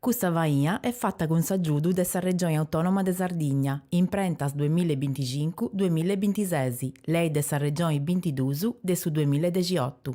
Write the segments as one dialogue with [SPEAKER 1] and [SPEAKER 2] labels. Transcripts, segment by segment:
[SPEAKER 1] Custa faina est fata cun s'agiudu de sa Regioni Autònoma de Sardigna, Imprentas duemilla e binticincu, duemilla e bintises, Lei de sa Regioni bintiduus de su duemilla e dexiotu.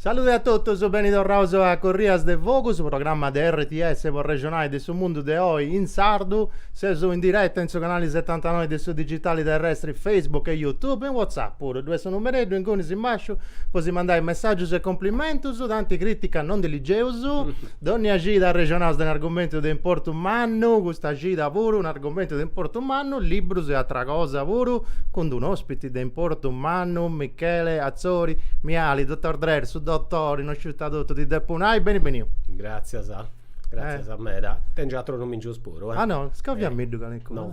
[SPEAKER 2] Salude a totus, beni torraus a Corrias de Fogu, su programma de RTS po arrexonai de su mundu de oi in sardu. Seus in direta in su canali setantanoi de su digitali terrestri Facebook e YouTube, in WhatsApp puru, ddui est su numereddu ingunis in basciu po si mandai messàgius e cumplimentus, tanti crìtica non ndi ligeus. Dònnia cida arrexonaus de un'argumentu de importu mannu, custa cida puru un'argumentu de importu mannu, librus e atra cosa puru, cun d'un'ospiti de importu mannu, Michele Atzori, Miali, Dottor Drer, su Dottori, no sciu ita totu ti depu nai, beni beniu.
[SPEAKER 3] Gràtzias, gràtzias meda. Tengiu atrus numingius puru, eh. Ah no, scoviamindi
[SPEAKER 2] calincunu.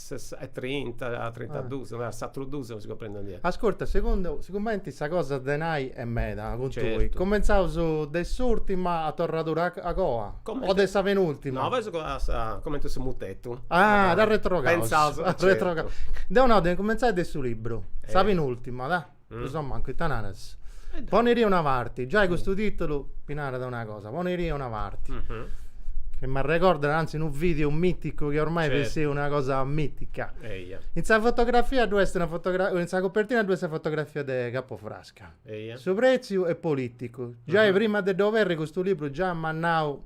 [SPEAKER 3] Funt trinta, trintaduus, ma is atrus duus non si cumprendint. Ascurta,
[SPEAKER 2] segundu, sigumenti sa cosa de nai est meda cun tui, commentzaus de s'urtima a torradura a coa, o de sa penurtima? No, fai
[SPEAKER 3] su comenti de su mutetu. Ah, dda
[SPEAKER 2] retrogaus. Cumentzaus, certu.
[SPEAKER 3] Deu nau de incumentzai
[SPEAKER 2] de su libru, sa penurtima, dai. Mm. Insomma, mancu ita naras. Eh, poneti a una parti, giai custu titulu ti narat una cosa, poneti a una parti. Mm-hmm. Che m'arrecordat anzi unu video miticu chi ormai certo. est una cosa mitica. Eia. In sa fotografia ddu est una fotografia, in sa copertina ddu est sa fotografia de Capofrasca. Eia. Su pretziu est politicu. Giai mm-hmm. prima de dd'oberri custu libru già m'at nau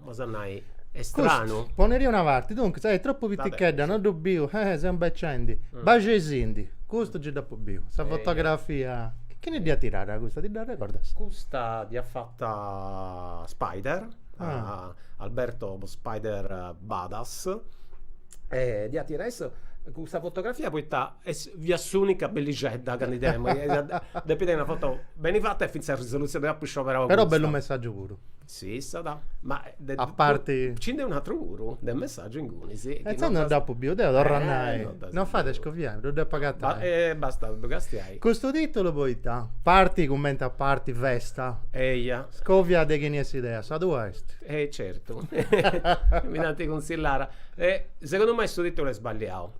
[SPEAKER 3] Cosa a nai, est stranu. Custu poneti a una
[SPEAKER 2] parti, duncas, eh, tropu piticheddu, no ddu biu, eh, seu imbecendi. Baxeisindi, custu giai dd'apu biu, sa fotografia, chini dd'iat tirada custa, ti
[SPEAKER 3] dd'arrecordas? Custa
[SPEAKER 2] dd'iat
[SPEAKER 3] fata Spider, Alberto Spider Badas, e dd'iat tirada issu, custa fotografia poita est, fiat s'unica bellixedda chi ndi tengiu, depit essi una foto beni fata e finzas sa risolutzioni, dd'apu scioberau custa. Però bellu messaggiu puru
[SPEAKER 2] Sissi,
[SPEAKER 3] ma a
[SPEAKER 2] parti ci nd'est un'atru
[SPEAKER 3] puru de messaggiu ingunis. E intzandus non dd'apu
[SPEAKER 2] biu deu, torru a nai, non fait a scoviai, ddu depu agatai. E bastat ddu castiai.
[SPEAKER 3] Custu titulu
[SPEAKER 2] poita parti cumenti a parti festa. Eia.
[SPEAKER 3] Scovia de chini est
[SPEAKER 2] s'idea, sa tua est. E certu,
[SPEAKER 3] mi dd'ant cunsillada. E segundu mei su titulu est sballiau.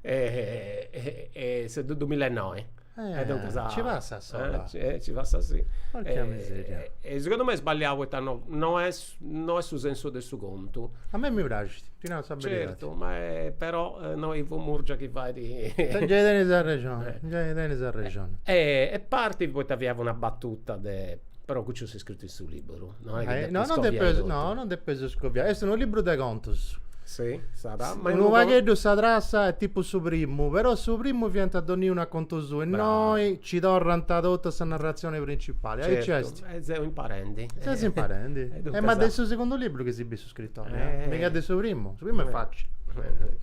[SPEAKER 3] e su dumilla e noi e duncas
[SPEAKER 2] nci passat sola nci passat
[SPEAKER 3] si porca miseria
[SPEAKER 2] e segundu mei est sballiau
[SPEAKER 3] poita no no est no est su sensu de su contu a mei mi
[SPEAKER 2] praxit ti nau sa beridadi certu
[SPEAKER 3] ma e però innoi Ivo Murgia chi fait nci
[SPEAKER 2] tenis arrexoni nci tenis arrexoni
[SPEAKER 3] e partit poita fiat una battuta de però custu est scritu in su liburu No, eh, no, non depes, no,
[SPEAKER 2] non depes scoviare. Est unu liburu de contus. Sì, sarà.
[SPEAKER 3] Ma unu pagheddu sa trassa
[SPEAKER 2] è tipo su primu, però su primu fiant donniunu a contu suu innoi ci torrant totu a sa narrazione principale. Certo, e seu
[SPEAKER 3] imparendi. Ses imparendi.
[SPEAKER 2] e ma de su sigundu libru chi si Scrittori, eh? eh. Mica de su primu, su primu est eh. facili.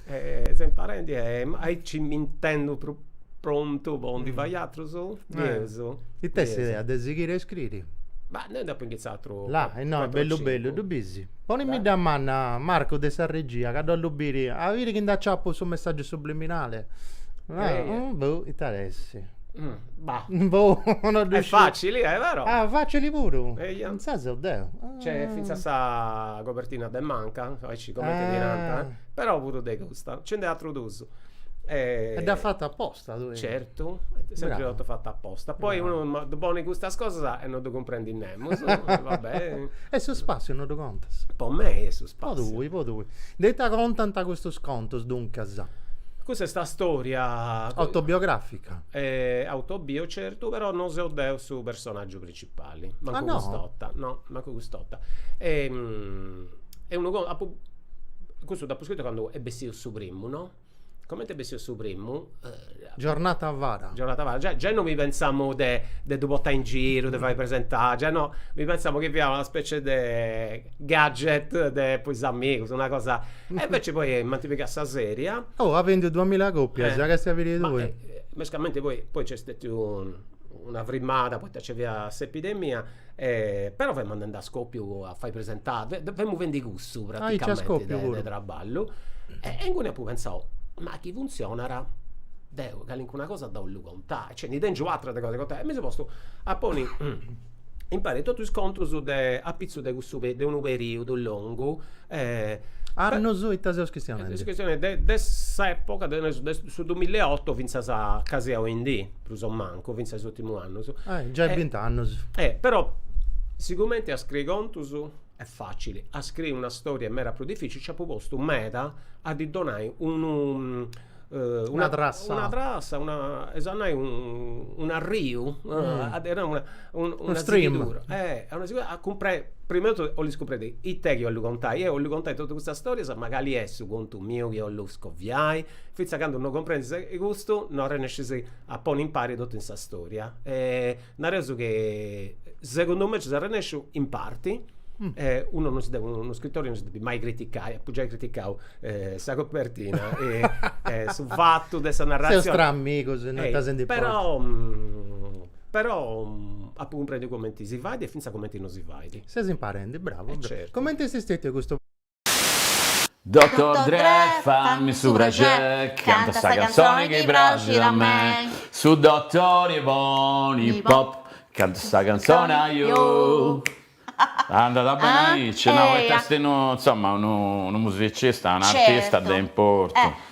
[SPEAKER 2] Eh,
[SPEAKER 3] eh, seu imparendi, eh, aici m'intendu pro prontu po ndi mm. fai atrus? Bieus. Eh. Ite
[SPEAKER 2] est idea de sighiri a iscriri? Ma innoi dd'apu
[SPEAKER 3] iniziau là e eh, no est
[SPEAKER 2] bellu bellu ddu bis ponimidda manna Marco de sa regia ca dd'ollu biri a biri chi nd'aciapu su messaggiu subliminale eh, eh. Mm, boh interessi mm. Bah. Boh, no ddu
[SPEAKER 3] Est sciu. facili, eh, però. Ah, facili
[SPEAKER 2] puru? Eia. Insaras seu deu. Nc'est fintzas
[SPEAKER 3] sa cobertina de manca, aici cumenti ddi nant, però puru de custa nci nd'est atrus duus. E dd'at
[SPEAKER 2] fatu aposta tui? Certu,
[SPEAKER 3] est sempri totu fatu aposta. Poi unu ddu ponit custas cosas e no ddu cumprendit nemus, va beni. E su
[SPEAKER 2] spassiu no ddu contas? Po mei est su
[SPEAKER 3] spassiu. Po tui, po tui. De
[SPEAKER 2] ita contant custus contus, duncas? Cussa
[SPEAKER 3] est una storia. Autobiografica?
[SPEAKER 2] E
[SPEAKER 3] autobio certu però non seu deu su personaggiu principali mancu cust'otta no mancu cust'otta e est unu contu apu custu dd'apu scritu candu est bessiu su primu no comente est bessiu su primu
[SPEAKER 2] giornata avara giornata avara giai giai non
[SPEAKER 3] mi pensamu de de ddu portai in giru de fai presenta giai no mi pensamu chi fiat una specie de gadget de po is amigus una cosa E invece poi m'ant pigau a sa seria. Oh at bendiu
[SPEAKER 2] duamilla copias, già ca est a biri tui. Mescamente
[SPEAKER 3] poi poi nc'est stetiu una frimada poita nci fiat s'epidemia e però femus andendi a scopiu a fai presenta, femus fendi cussu praticamenti de traballu e inguni apu pentzau, ma chi funtzionat deu calincuna cosa dd'ollu contai, cioè ndi tengiu ateras de cosa de contai e mi seu postu a ponni impari totu is contus de apitzus de cussu pe de unu periudu
[SPEAKER 2] longu Annus ita seus chistionendi? Seus chistionendi de
[SPEAKER 3] de s'epoca de nareus de su dumilla e oto finzas a casi a oindì, prus o mancu, finzas a is urtimus annus. Giai bint'annus. Però sigumenti a scriri contus est facili, a scriri una storia est meda prus dificili, nci apu postu meda a ddi donai unu Una trassa. Una trassa, una, 'ezo a nai, un'arriu, unu stream,
[SPEAKER 2] a
[SPEAKER 3] cumprei, prima 'e totu 'ollu scumprei ite chi 'ollu contai, eo 'ollu contai totu custa storia ma cali est su contu miu chi 'ollu scoviai, finzas a candu non cumprenzis custu non arrennescis a ponni impari totu in sa storia Nareus ca segundu mei ci s'est arrennesciu in parti, unu non si depit, unu scritori non si depit mai criticai, apu giai criticau sa copertina e su fatu de sa narratzioni. Seus tra amigus, no est ca si
[SPEAKER 2] ndi importat. Però
[SPEAKER 3] però apu cumprendiu cumenti si fait e finzas cumenti non si fait. Ses imparendi, bravu.
[SPEAKER 2] E certu. Cumenti est stetiu
[SPEAKER 3] custu
[SPEAKER 4] Doctor Dre, fammi su praxeri, canta sa canzoni chi praxit a me. Su dottori 'e Bunny Pop, canta sa canzoni, ajò. Andat beni aici, no, poita est unu, insomma, unu musicista, un'artista de importu.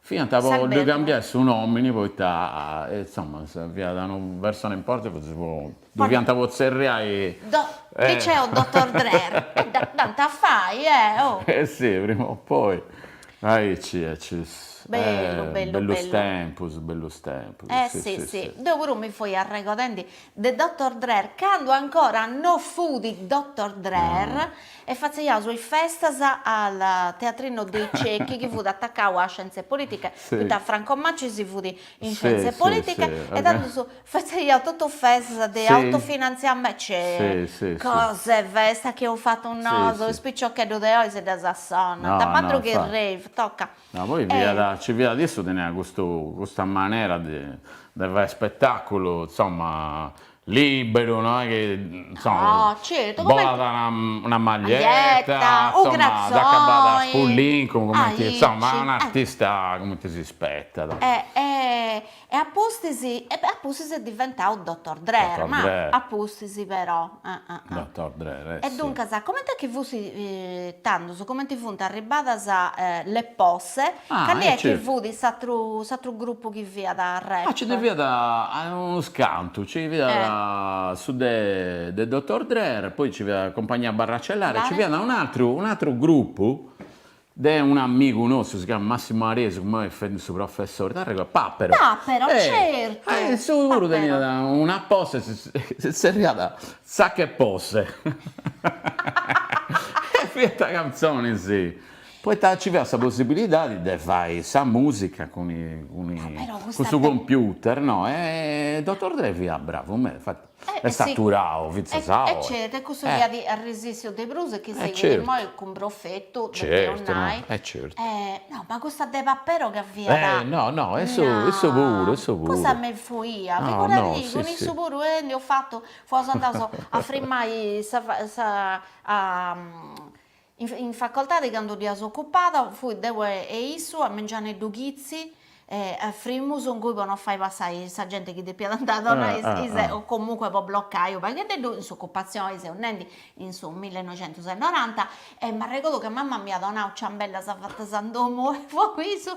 [SPEAKER 4] Fiant po ddu
[SPEAKER 5] cambiai su
[SPEAKER 4] nòmini poita insoma fiat una persona importanti fotzis po ddu fiant po tzerriai Liceo
[SPEAKER 5] dotor Drer? E dd'ant a fai eh oh Eh si prima
[SPEAKER 4] o poi aici aici
[SPEAKER 5] Bellu bellu bellu Bellus tempus bellus
[SPEAKER 4] tempus Eh si
[SPEAKER 5] si deu puru mi fui arregodendi de Dottor Drer candu ancora no fut Dottor Drer e fatzeiaus is festas al Teatrino dei Ciechi chi fut atacau a Scienze Politiche poita Franco
[SPEAKER 4] Maccis
[SPEAKER 5] fut in Scienze Politiche
[SPEAKER 4] e tandus
[SPEAKER 5] fatzeiaus totus festas de autofinantziamentu,
[SPEAKER 4] cioè cosas,
[SPEAKER 5] festas chi eus fatu nosu is piciocheddus
[SPEAKER 4] de
[SPEAKER 5] oi si ddas sonnant, Madrughi
[SPEAKER 4] Rave
[SPEAKER 5] tocat No, poi
[SPEAKER 4] fiat, ci fiat, issu teniat custu, custa manera de de fai spettaculu, insomma, liberu, no est chi, insomma,
[SPEAKER 5] bolàt
[SPEAKER 4] una una
[SPEAKER 5] maglietta,
[SPEAKER 4] insomma, acabàt
[SPEAKER 5] a spullincu,
[SPEAKER 4] cumenti, insomma, un'artista
[SPEAKER 5] cumenti
[SPEAKER 4] si rispettat.
[SPEAKER 5] E a pustis, e a pustis est diventau Dottor Drer, ma a
[SPEAKER 4] pustis
[SPEAKER 5] però, ah ah ah. Dottor
[SPEAKER 4] Drer, eh sì. E duncas, comenti
[SPEAKER 5] est chi fut tandus, comenti funt arribbadas le posse, cali est chi fut s'atru, s'atru gruppu chi fiat rap. Ah, nci ndi
[SPEAKER 4] fiat unus cantu, nci fiat su de de Dottor Drer, poi nci fiat Compagnia Barracellare, nci fiat un'atru,
[SPEAKER 5] un'atru
[SPEAKER 4] gruppu De un' amigu nostru, si chiamat Massimu Aresu, chi immoi fait su professori, t'arregodas, Papero. Papero, certu.
[SPEAKER 5] Issu puru teniat
[SPEAKER 4] una
[SPEAKER 5] posse,
[SPEAKER 4] si zerriat Zacca Posse. E fiant cantzonis, poita nci fiat sa possibilidadi de fai sa musica
[SPEAKER 5] cun su computer,
[SPEAKER 4] no,
[SPEAKER 5] e
[SPEAKER 4] Dottor Dre fiat bravu meda, infati Est
[SPEAKER 5] aturau fintzas
[SPEAKER 4] a oi. E certu, e cussu
[SPEAKER 5] fiat arrisissiu de prus e chi sighit immoi cun
[SPEAKER 4] profetu,
[SPEAKER 5] depeus nai.
[SPEAKER 4] E certu.
[SPEAKER 5] No,
[SPEAKER 4] ma custa
[SPEAKER 5] de Papero ca fiat. Eh, no, no,
[SPEAKER 4] issu, issu puru, issu puru. Cussa
[SPEAKER 5] mi fuiat, figuradì,
[SPEAKER 4] cun
[SPEAKER 5] issu
[SPEAKER 4] puru ndi
[SPEAKER 5] eus fatu, fuaus andaus a frimmai sa In facoltadi candu dd'iaus ocupada fui deu e issu a mengianeddu chitzi e frimus ingui po no fai passai sa genti chi depiat andai a donai o comunque po bloccai unu pagheddeddu in s'occupazioni seu nendi in su millenoixentusenoranta e m'arregordu ca mama m'iat donau ciambellas fatas in domu fui cun issu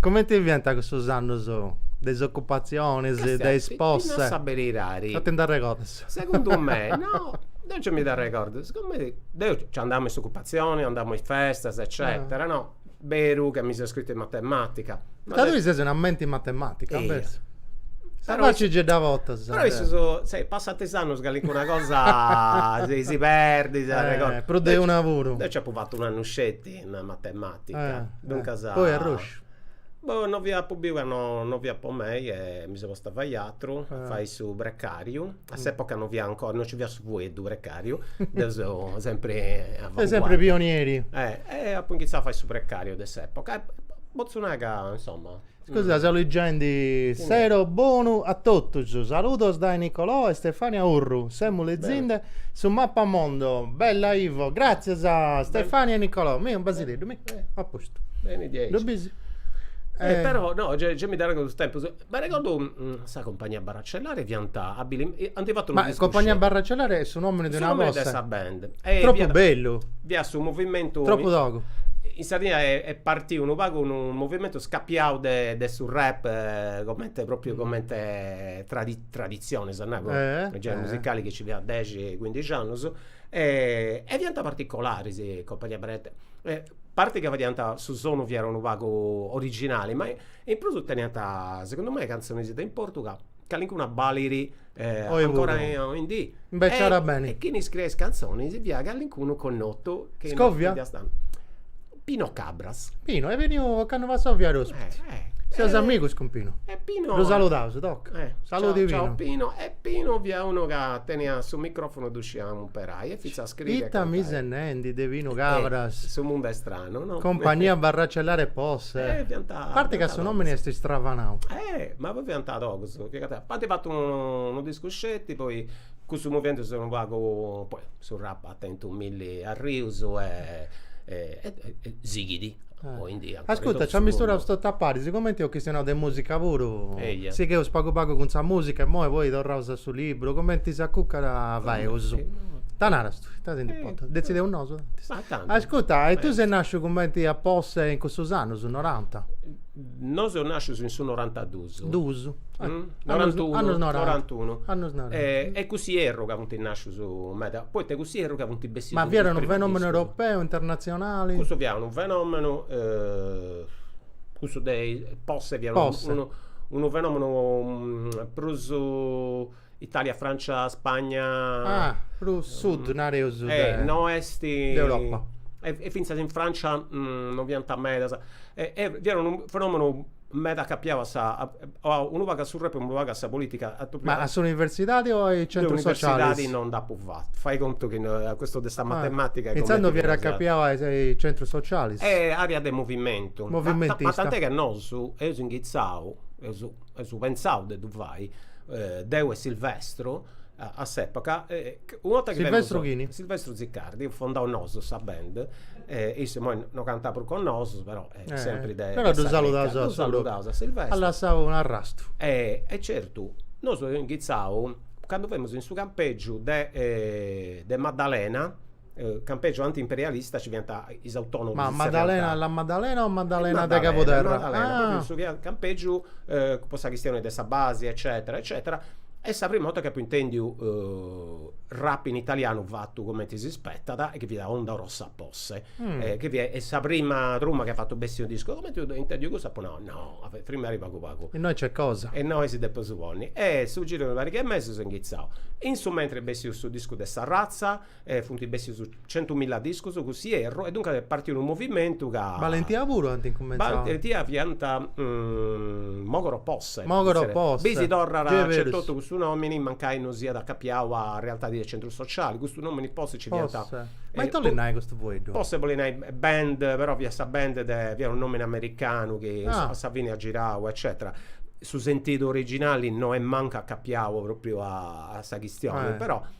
[SPEAKER 3] Comente
[SPEAKER 2] fiant cussos annos de is ocupatziones, de is posse? Ti nau
[SPEAKER 3] sa
[SPEAKER 2] beridadi.
[SPEAKER 3] No ti
[SPEAKER 2] nd'arregordas? Segundu me
[SPEAKER 3] no, deu gei mi dd'arregordu, sigumenti deu nci andà me is ocupatzioni, andà me is festas eccetera no, beru ca mi seu iscritu in matematica. Poita tui ses una menti
[SPEAKER 2] in matematica, invecis. Sa
[SPEAKER 3] faci ci dda
[SPEAKER 2] botas. Però immoi, scis,
[SPEAKER 3] passant is annus calincuna cosa si perdit, arregordus. Prus de una puru.
[SPEAKER 2] Deu nci apu fatu un'annu
[SPEAKER 3] sceti in matematica. Duncas.
[SPEAKER 2] Poi arrosciu. Boh no
[SPEAKER 3] fiat apu biu ca no fiat po mei e mi seu postu a fai atru, a fai su precariu, a s'epoca no fiat ancora, no ci fiat su fueddu precariu, deu seu sempri Seu
[SPEAKER 2] sempri pionieri. E apu incumintzau
[SPEAKER 3] a fai su precariu de s'epoca e potzu nai ca insomma Scusa seu
[SPEAKER 2] ligendi Sero bonu a totus Saludos dae Nicolò e Stefania Urru semus lezinde su Mappamondo Bella Ivo Gratzias a Stefania e Nicolò Mi unu basideddu mi at postu Ddu bisi? Però
[SPEAKER 3] no gei mi dd'arregodu su tempus M'arregodu sa compagnia Cellare fiant abili ant fatu unu discu sceti. Ma Compagnia
[SPEAKER 2] Barracellare est su nomini de una cosa. Su nomini de sa band.
[SPEAKER 3] Tropu
[SPEAKER 2] bellu. Fiat su movimentu.
[SPEAKER 3] Tropu togu.
[SPEAKER 2] In Sardigna
[SPEAKER 3] est partiu unu pagu unu movimentu acapiau a su rap comente propriu comente traditzioni seu nau unu generi musicali chi nci fiat de dexi cuindixi annus e fiant particolaris is Compagnia Barra. A parti ca fadiant su sonu fiat unu pagu originali ma In prus teniant segundu mei cantzonis de importu ca calincuna balit ancora oindì. Imbeciadas beni. E
[SPEAKER 2] chini scriiat is cantzonis
[SPEAKER 3] fiat calincunu connotu. Scovia? Pino Cabras. Pino, est beniu,
[SPEAKER 2] ocannu passau fiat ospiti. Seus amigus cun Pino. E Pino. Ddu
[SPEAKER 3] saludaus, toc.
[SPEAKER 2] Saludi Pino. Ciao Pino. E
[SPEAKER 3] Pino
[SPEAKER 2] fiat
[SPEAKER 3] unu ca teniat su microfonu ddu scidia imperai e fintzas Ita mi ses
[SPEAKER 2] nendi de Pinu Cabras. Su mundu est
[SPEAKER 3] stranu no. Compagnia Barracellare
[SPEAKER 2] Posse. Eh fiant. A parte ca su nomini est istravanau. Eh ma poi fiant
[SPEAKER 3] togus fiant ant fatu unu discu sceti poi cussu movimentu s'est unu pagu poi su rap at tentu milli arrius e sighidi
[SPEAKER 2] Ascurta, nci amisturaus totu a paris, cumenti eus chistionau de musica puru, sigheus pagu pagu cun sa musica imoi poi torraus a su liburu, cumenti s'acucat faeus. Ita naras tui? Ita si nd'importat, detzideus nosu. Ascurta, e tui ses nasciu cumenti a Posse in cussus annus, noranta? Nosu seus
[SPEAKER 3] nàscius in su norantaduus. Duus. Norantunu. Annus
[SPEAKER 2] noranta. Norantunu. Annus noranta. E e
[SPEAKER 3] cuss'ierru ca funt nàscius meda, poita cuss'ierru ca funt bessius. Ma fiat unu fenomenu
[SPEAKER 2] europeu, internatzionali? Cussu fiat
[SPEAKER 3] unu fenomenu, cussu de posse fiat unu fenomenu prus Italia, Francia, Spagna. Ah, prus
[SPEAKER 2] sud, nareus. E no est.
[SPEAKER 3] De
[SPEAKER 2] Europa. E fintzas
[SPEAKER 3] in Francia no fiant medas. E e fiat unu fenomenu meda acapiau a sa, unu pagu a su rap e unu pagu a sa politica. Ma a
[SPEAKER 2] s'universidadi o a is centrus socialis? De universidadi no nd'apu
[SPEAKER 3] fatu. Fai contu chi a custu de sa matematica. E intzandus fiat acapiau
[SPEAKER 2] a is centrus socialis. E area de
[SPEAKER 3] movimentu. Movimentista. Ma tant'è ca nosu eus inghitzau, eus. eus pentzau de ddu fai, deu e Silvestro a s'epoca, una 'orta chi femus, Silvestro
[SPEAKER 2] chini? Silvestro Ziccardi, eus
[SPEAKER 3] fondau nosu sa band, issu imoi non cantat prus cun nosu però est sempri de sa cricca, però
[SPEAKER 2] ddu saludaus a su propriu, at
[SPEAKER 3] lassau u'
[SPEAKER 2] arrastu. E
[SPEAKER 3] certu, nosu eus inghitzau, candu femus in su campegiu de Maddalena campegiu anti-imperialista nci fiant is autonomus. Ma Maddalena,
[SPEAKER 2] La Maddalena o Maddalena de Cabuderra? Maddalena, propriu in su chi
[SPEAKER 3] at campegiu po sa chistioni de sa basi eccetera eccetera est sa prima 'orta chi apu intendiu rap in italianu fatu cumenti si spetat e chi fiat Onda Rossa Posse e chi fiat sa prima truma chi at fatu bessi unu discu e cumenti eus intendiu cussa apu nau no, frimmari pagu pagu. Innoi nc'est cosa. E
[SPEAKER 2] innoi si depeus
[SPEAKER 3] ponni in su giru de pariga 'e mesis eus inghitzau. In su mentri est bessiu su discu de Sa Razza E funt bessius centumilla discus cuss'ierru e duncas est partiu unu movimentu ca. Balentia puru
[SPEAKER 2] ant incumentzau. Balentia
[SPEAKER 3] fiant Mogoro Posse. Mogoro Posse. Biis,
[SPEAKER 2] torrat aici
[SPEAKER 3] etotu custu nomini mancai non siat acapiau a realtadi de centru sociali. Custu nomini Posse nci fiant. Posse. Ma ita olit
[SPEAKER 2] nai custu fueddu? Posse bolit
[SPEAKER 3] nai band, però fiat sa band de, fiat unu nomini americanu chi a sa fini at girau eccetera. Su sentidu originali no est mancu acapiau propriu a sa chistioni, però.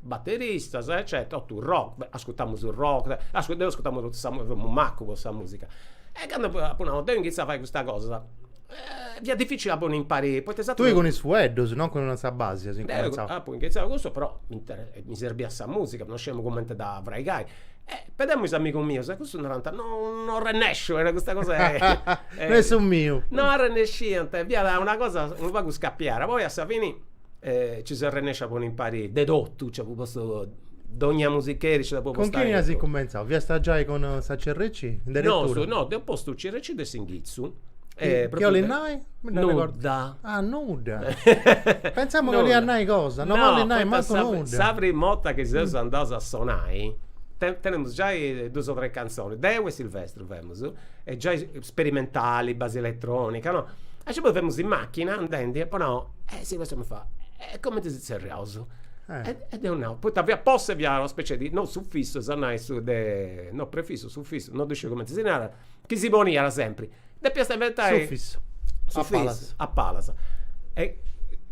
[SPEAKER 3] Batteristas eccetera totu rock, ascurtamus rock, deu ascurtamu totu sa, femu macu po sa musica e candu apu nau depu iniziai a fai custa cosa fiat dificili a ponni impari poita is atrus. Tui cun is fueddus
[SPEAKER 2] non cun sa basi as incumentzau. Deu apu inghitzau
[SPEAKER 3] cun cussu però mi serbiat sa musica, non sciemu cumenti a dda fraigai e pedemu is amigus mius e cussus narant non non rennesciu e custa cosa non est su miu.
[SPEAKER 2] Non arrennesciant
[SPEAKER 3] fiat una cosa unu pagu scapiara poi a sa fini e ci seus arrennescius a ponni impari de totu, nci apu postu dogna musicheri nci dd'apu postu. Cun chini as incumentzau?
[SPEAKER 2] Fiasta giai cun sa CRC? In deretura? No, no, deu
[SPEAKER 3] postu CRC de s'inghitzu. Chi 'olit
[SPEAKER 2] nai? Mi dda arregodu.
[SPEAKER 3] Nudda. Ah,
[SPEAKER 2] nudda. Pensamus ca 'oliat nai cosa, no 'olit nai mancu nudda. No, sa primu 'orta chi
[SPEAKER 3] seus andaus a sonai, teniaus giai dus o tres cantzonis, deu e Silvestro Femus giai sperimentali, basi eletronica, no. E poi femus in machina andendi e apu nau, eh si custu mi fait, e cumenti si tzerriaus? E deu apu nau, poita fiat posse fiat una specie di, non sufissu s'at nai su de, no prefissu, sufissu, no ddu sciu cumenti si narat, chi si poniat sempri. Depiast inventai.
[SPEAKER 2] Sufissu. Sufissu,
[SPEAKER 3] a palas. E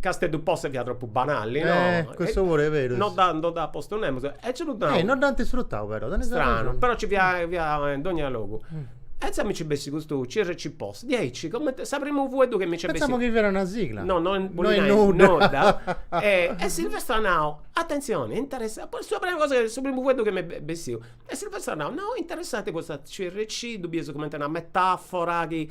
[SPEAKER 3] Casteddu posse fiat tropu banalli, no. Custu puru est berus. No
[SPEAKER 2] dd'at, no dd'at postu
[SPEAKER 3] nemus E ci dd'at. Eh, no dd'ant isfrutau però,
[SPEAKER 2] tenis arrexoni. Stranu, però ci
[SPEAKER 3] fiat fiat in dogna logu. E insaras mi nci bessit custu CRC Posse, diaici, comente su primu fueddu chi mi nci bessit. Pensamu chi fiat una sigla.
[SPEAKER 2] No, no, No bollit nai nudda.
[SPEAKER 3] No est nudda. E e Silvestro at nau, atentzioni, interessanti, poi sa prima cosa chi, su primu fueddu chi m'est be- bessiu. E Silvestro at nau, no, interessanti custa CRC, ddu bides cumenti una metafora chi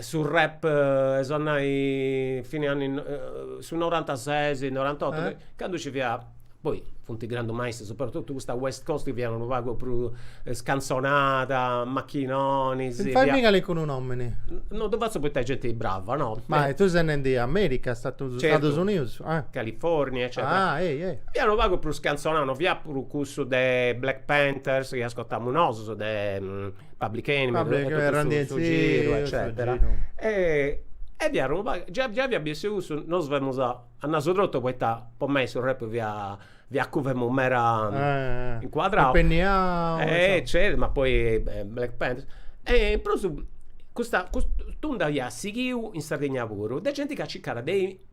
[SPEAKER 3] Su rap 'e is annus fine anni su norantasesi norantotu candu ci fiat poi funt grandus maistrus sopratotu custa west coast chi fiat unu pagu prus scantzonada machinonis Ti fai miga
[SPEAKER 2] cun unu omini No ddu fatzu
[SPEAKER 3] poita est genti brava no Ma tui ses in
[SPEAKER 2] America Stadus Unius California
[SPEAKER 3] eccetera Fiat unu pagu prus scantzonau no fiat prus cussu de Black Panthers chi ascotàmus nosus de Public Enemy e totu su Run DMC su giru eccetera e e fiat unu pagu già già fia bessiu cussu nosu femus a nasu trotu poita po mei su rap fia fia cu femus mera incuadrau impenniau e certu ma poi Black Panthers e in prus custa cust'unda fiat sighiu in Sardigna puru de genti chi circada de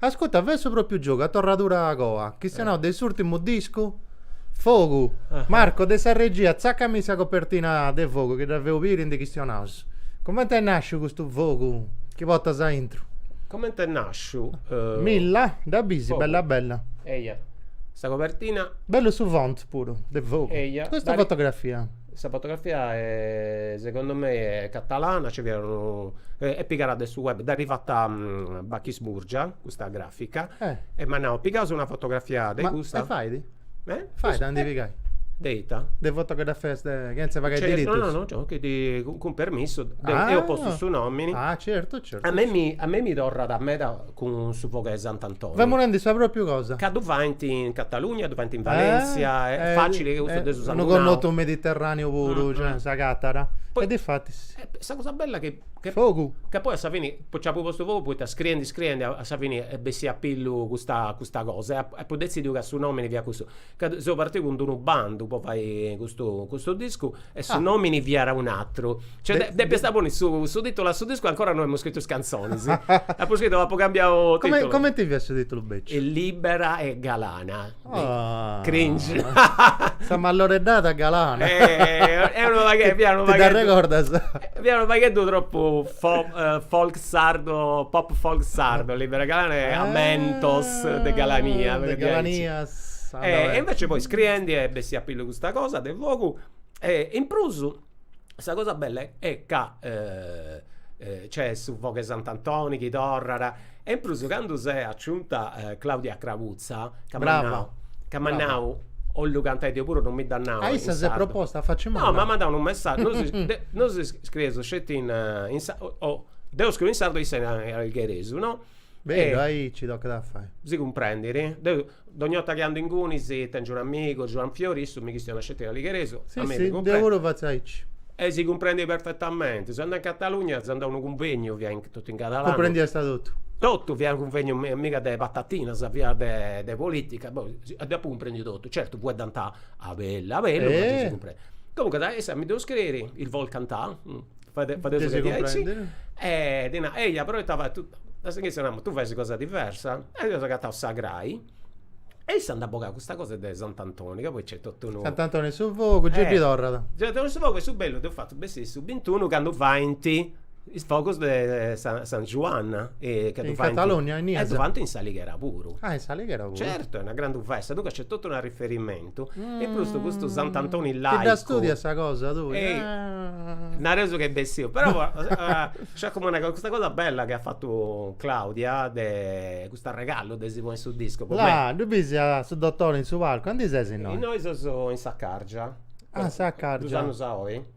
[SPEAKER 2] Ascuta, fatzu propriu giogu a torradura coa, chistionaus de s'urtimu discu? Fogu! Marco, de sa regia, tzaccami sa copertina de Fogu chi dda feus biri ndi chistionaus. Comenti est nasciu custu Fogu chi portas aintru? Comenti
[SPEAKER 3] est nasciu? Milla,
[SPEAKER 2] dda bis bella
[SPEAKER 3] bella? Eia
[SPEAKER 2] sa
[SPEAKER 3] copertina. Bellu su font
[SPEAKER 2] puru de Fogu. Eia. Custa fotografia. Sa
[SPEAKER 3] fotografia segundu mei est catalana, nci fiat unu, est pigada de su web, dd'at fata Bachis Murgia, custa grafica, e m'at nau, pigaus una fotografia de custa. Ma e fait?
[SPEAKER 2] E? Fait a ndi pigai? De ita?
[SPEAKER 3] De
[SPEAKER 2] fotografias de, chenze pagai diritus? No, no,
[SPEAKER 3] no, cun permissu, deu apu postu su nomini. Ah certu, certu.
[SPEAKER 2] A
[SPEAKER 3] mei mi torrat meda cun su fogu 'e Sant'Antoni. Femu nendi sa
[SPEAKER 2] propriu cosa. Ca ddu faint
[SPEAKER 3] in Catalugna, ddu faint in Valèntzia, est facili chi cussu dd'eus sanguinau. Unu connotu mediterraneu
[SPEAKER 2] puru, cioè, sa catara. E difatis. Sa cosa bella
[SPEAKER 3] chi. Fogu. Ca poi
[SPEAKER 2] a sa
[SPEAKER 3] fini, poi nci apu postu fogu poita scriendi scriendi a sa fini est bessia a pillu custa custa cosa e apu detzidiu ca su nomini fiat custu. Ca seu partiu cun d'unu bandu po fai custu custu discu E su nòmini fiat un'atru. Cioè, depiast ponni su su tìtulu a su discu e ancora no iamu scritu is cantzonis. Apu scritu, apu cambiau tìtulu. Comenti fiat su tìtulu
[SPEAKER 2] beciu? Libera
[SPEAKER 3] e galana. Cringe.
[SPEAKER 2] Sa malloreddada galana. Fiat unu pagheddu tropu
[SPEAKER 3] folk sardo, pop folk sardo, libera e galana, ammentos de ah, galania. De galanias.
[SPEAKER 2] E invece poi
[SPEAKER 3] scriendi est bessia a pillu custa cosa de fogu e in prus sa cosa bella è ca nc'est su fogu 'e Sant'Antoni chi torrara E in prus candu s'est aciunta Claudia Crabuzza ca m'at nau, Brava, brava. ca m'at nau, 'ollu cantai deu puru, non mi dd'at nau in sardu. Ah, issa s'est proposta a
[SPEAKER 2] facci manna? No, m'at mandau unu messaggiu,
[SPEAKER 3] nosu si de- nosu si scrieus sceti in in sa- o- o deu scriu in sardu e issa in a- in algheresu, no? Bellu, aici
[SPEAKER 2] tocat a fai. si
[SPEAKER 3] cumprendit, deu Dogni 'orta chi andu ingunis tèngiu un amigu, Giuan Fiori, issu mi chistionat sceti in aligheresu, a mei mi cumprendit. Deu puru
[SPEAKER 2] fatzu aici. E si cumprendit
[SPEAKER 3] perfetamenti. Seu andau in Catalugna, seu andau a unu cunvegnu, fiat totu in catalanu.
[SPEAKER 2] Cumprendiast
[SPEAKER 3] totu? Totu, fiat unu cunvegnu miga de patatinas, fiat de politica, deu apu cumprendiu totu, certu fueddànt a bellu a bellu ma gei si cumprendit. Comunque issa mi ddu scriit, el vol cantà. faeddesu de diaici. Gei si cumprendit.
[SPEAKER 2] E ddi nau,
[SPEAKER 3] eia, però ita fai, tu, a su inizio namu, tui fais cosas diversas. E eus agatau sa crai e issa nd'at bogau custa cosa de Sant'Antoni, ca poi nc'est totu unu. Sant'Antoni 'e su fogu, gei
[SPEAKER 2] ddi torrat. Gei ddi torrat su fogu e
[SPEAKER 3] su bellu dd'eus fatu bessiri su bintunu candu faint is fogus de San Juan. In Catalogna,
[SPEAKER 2] innias. E
[SPEAKER 3] ddu faint
[SPEAKER 2] in s'Alighera
[SPEAKER 3] puru. Ah, in s'Alighera puru.
[SPEAKER 2] Certu, est una grandu festa,
[SPEAKER 3] duncas nc'est totu unu. E prus de custu Sant'Antoni laicu. Ti dda studias
[SPEAKER 2] sa cosa
[SPEAKER 3] tui? Nareus ch'est bessiu, però nc'est comenti nai, custa cosa bella chi at fatu Claudia de cust'arregallu de si ponni in su discu. Là, ddu bisi a
[SPEAKER 2] su dottori in su palcu, aundi ses innoi? Innoi seus
[SPEAKER 3] in Saccàrgia. Ah, Saccàrgia. Duus
[SPEAKER 2] annus a oi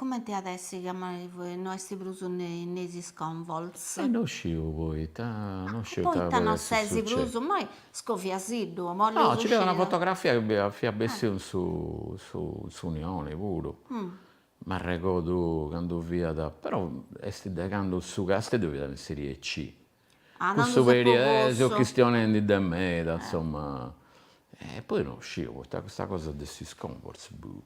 [SPEAKER 3] Cumenti
[SPEAKER 5] at essi ca no est prus in is Sconvolts? E no
[SPEAKER 4] sciu poita, no sciu ita poita no ses
[SPEAKER 5] prus, moi scoviasiddu, ddu bolleus sciri. Una
[SPEAKER 4] fotografia chi bi fiat bessiu in su in s'Unioni puru, m'arregodu candu fiat, però est de candu su Casteddu fiat in Serie C, cussu periodu, seu chistionendi de meda, insomma, e poi no sciu poita custa cosa de is Sconvolts, boh.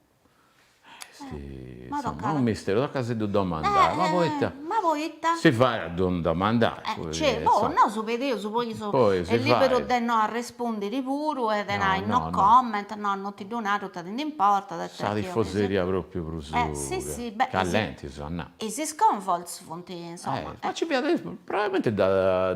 [SPEAKER 4] Unu misteru, tocat a si ddu domandai, ma poita si fait a ddu domandai. Cioè, po nosu
[SPEAKER 5] pedeus, poi est liberu de no arrespundiri puru e de nai no comment, no non ti ddu naru ita ti nd'importat e sa
[SPEAKER 4] tifoseria propriu
[SPEAKER 5] prus callenti si 'olit
[SPEAKER 4] nai. Is sconvolts
[SPEAKER 5] funt insoma. Ma nci fiat,
[SPEAKER 4] probabilmenti dda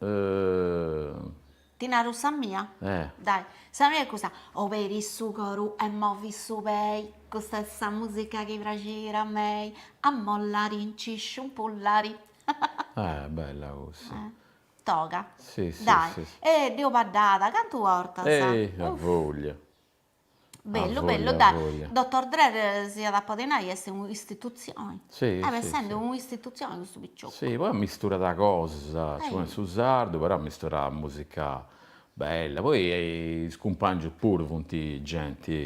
[SPEAKER 5] Eeeh. Ti naru sa mia? Eh. Dai, sa mia est custa, oberi su coru e movi su pei, custa est sa musica chi praxit a mei, a mollari, nci sciumpullari.
[SPEAKER 4] Eh, bella cussa. Eh. Toga.
[SPEAKER 5] Si, si, si. Dai,
[SPEAKER 4] eh, dd'eus baddada
[SPEAKER 5] cantu 'ortas. Ehi, a voglia. Bellu bellu,
[SPEAKER 4] dai, dottor
[SPEAKER 5] Drer si iat a podi nai est un'istitutzioni, est
[SPEAKER 4] essendi un'istitutzioni
[SPEAKER 5] custu picioccu. Si, poi ammisturat
[SPEAKER 4] cosas, sigomente est su sardu, però ammisturat musica bella, poi is cumpangius puru funt
[SPEAKER 5] genti,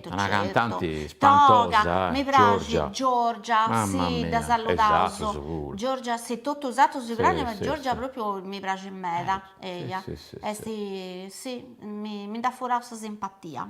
[SPEAKER 5] una cantanti
[SPEAKER 4] spantosa,
[SPEAKER 5] Giorgia, Giorgia, mamma mia, e is
[SPEAKER 4] atrus
[SPEAKER 5] puru, Giorgia
[SPEAKER 4] si, totus
[SPEAKER 5] is atrus si praxint ma Giorgia propriu mi
[SPEAKER 4] praxit
[SPEAKER 5] meda eia
[SPEAKER 4] est si mi nd'at
[SPEAKER 5] furau sa
[SPEAKER 4] simpatia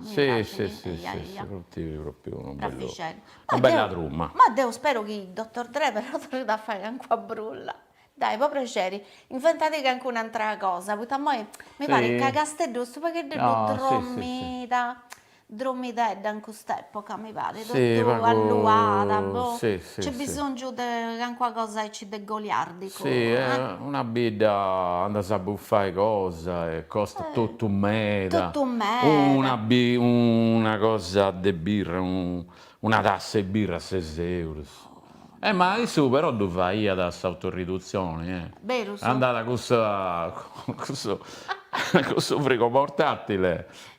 [SPEAKER 4] bella truma ma deu spero chi
[SPEAKER 5] Dottor Drer però torrit a fai calincuna brulla dai po prexeri inventadì calincuna atra cosa poita immoi mi parit ca Casteddu est u' pagheddeddu drommida Dromidedda in cust'època mi parit, totu alluada, boh, nc'est bisòngiu de calincuna cosa aici de goliàrdicu. Si, una
[SPEAKER 4] bidda andas a bufai cosa e costat totu meda, una cosa de birra, una tassa 'e birra ses eurus. E ma issu però ddu faiat s'autoridutzioni, andat
[SPEAKER 5] cun sa
[SPEAKER 4] cun su frigo portàtile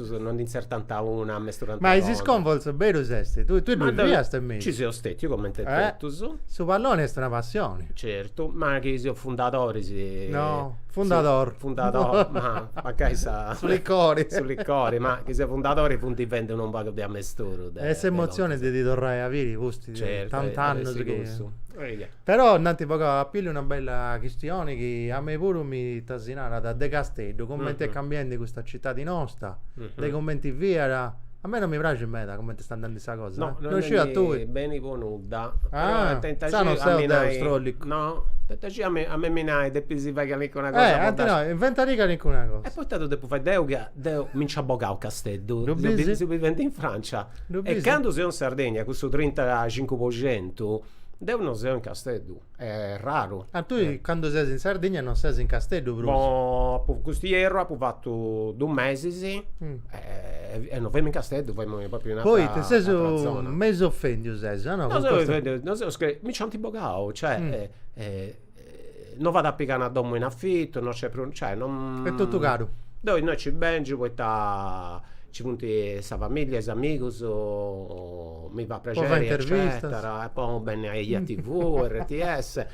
[SPEAKER 2] Cussus
[SPEAKER 3] no ndi ntzertant una, amesturant totus. Ma is
[SPEAKER 2] Sconvolts berus est, tui ddoi fiast in mesu? Ci seu stetiu comente
[SPEAKER 3] totus. Su palloni est
[SPEAKER 2] una passioni. Certu, ma chi
[SPEAKER 3] seu fundadori. No,
[SPEAKER 2] fundador.
[SPEAKER 3] Fundador, ma mancai sa. Su licori.
[SPEAKER 2] Su licori, ma chi
[SPEAKER 3] seu fundadori funt fendi unu pagu de amesturu de. E s'emozioni
[SPEAKER 2] de ti torrai a biri pustis de tant'annus
[SPEAKER 3] chi. Però
[SPEAKER 2] nd'ant bogau a pillu una bella chistioni chi a mei puru mi tasinarat de Casteddu, cumenti est cambiendi custa citadi nosta, de cumenti fiat, a mei non mi praxit meda cumenti sta andendi sa cosa. No, non sciu a tui.
[SPEAKER 3] Beni
[SPEAKER 2] po nudda.
[SPEAKER 3] Ah, insaras
[SPEAKER 2] non seu deu strollicu. No, poita
[SPEAKER 3] scì a mei a mei mi nant depis fai calincuna cosa. Eh, anti nai,
[SPEAKER 2] inventadì calincuna cosa. E poita ddu depu fai
[SPEAKER 3] deu ca deu mi nc'at bogau Casteddu. Ddu bisi? Seu bivendi in Francia. Ddu bisi? E candu seu in Sardegna cussu trintacincu po centu Deu non seu in Casteddu, est raru. Ah, tui candu
[SPEAKER 2] ses in Sardigna non ses in Casteddu prus. No, apu custu ierru apu
[SPEAKER 3] fatu dus mesis e non femus in Casteddu, femus propriu in ateras zonas. Poita ses
[SPEAKER 2] mesu ofendiu ses, no?
[SPEAKER 3] No seu ofendiu, mi nci ant bogau, cioè No fait a pigai una domo in afitu, no c'è prus, cioè non. Est totu
[SPEAKER 2] caru. Deu innoi ci
[SPEAKER 3] bengiu poita ci funt sa familia, is amigus, mi fait prexeri eccetera e po benni a ejatv, rts.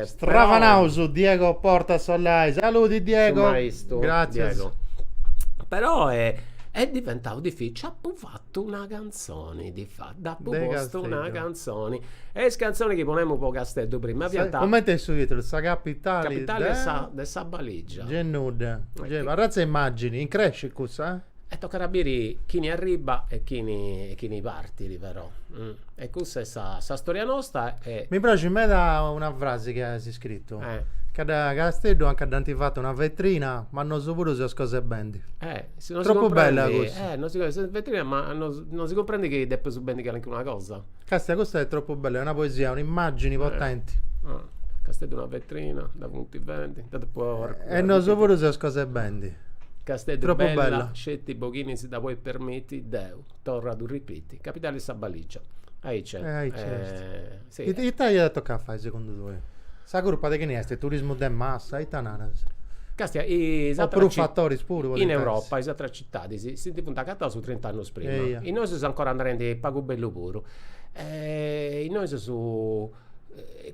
[SPEAKER 2] Stravanaus Diego Porta Sollai, saludi Diego. Su maistu Diego.
[SPEAKER 3] Però est diventau dificili, Una canzoni ti fa. Dd'apu De postu una Casteddu. canzoni. E is canzonis chi ponemus po Casteddu prima fiant. Sa- comente est su
[SPEAKER 2] titulu? Sa capitali Capitali de sa. de sa
[SPEAKER 3] Baligia. Gei nudda. Ma
[SPEAKER 2] Gei chi- arratza 'e immagini, increscit cussa? E tocat a biri
[SPEAKER 3] chini arribbat e chini e chini partit però. E cussa est sa sa storia nosta e. Mi praxit
[SPEAKER 2] meda una frasi chi as scritu. Eh. Ca dda Casteddu anca dd'ant fatu una vetrina, ma nosu puru seus cosa 'e bendi. Eh Tropu bella cussa. Eh, non si comprendi, sas
[SPEAKER 3] vetrinas, ma non si comprendi chi depeus bendi calincuna cosa. Castia, custa est tropu
[SPEAKER 2] bella, est una poesia, un'immagini potenti. Casteddu
[SPEAKER 3] una vetrina, dda funti bendi, dda depu arrugiri. E
[SPEAKER 2] nosu puru seus cosa 'e bendi.
[SPEAKER 3] Casteddu
[SPEAKER 2] bella,
[SPEAKER 3] sceti po chini si dda podit permiti, deu torru a ddu ripiti, capitali 'e sa baligia. Aici est. E aici est. Si. It-
[SPEAKER 2] Ita iat a tocai a fai segundu tui? Sa curpa de chini est? Turismu de massa? Ita naras? Castia, is
[SPEAKER 3] O atras prus ci-
[SPEAKER 2] fatoris puru podint In essi. Europa is atras
[SPEAKER 3] citadis si ndi funt agataus trint'annus prima. Eia. Innoi seus ancora andendi pagu bellu puru. Innoi seus,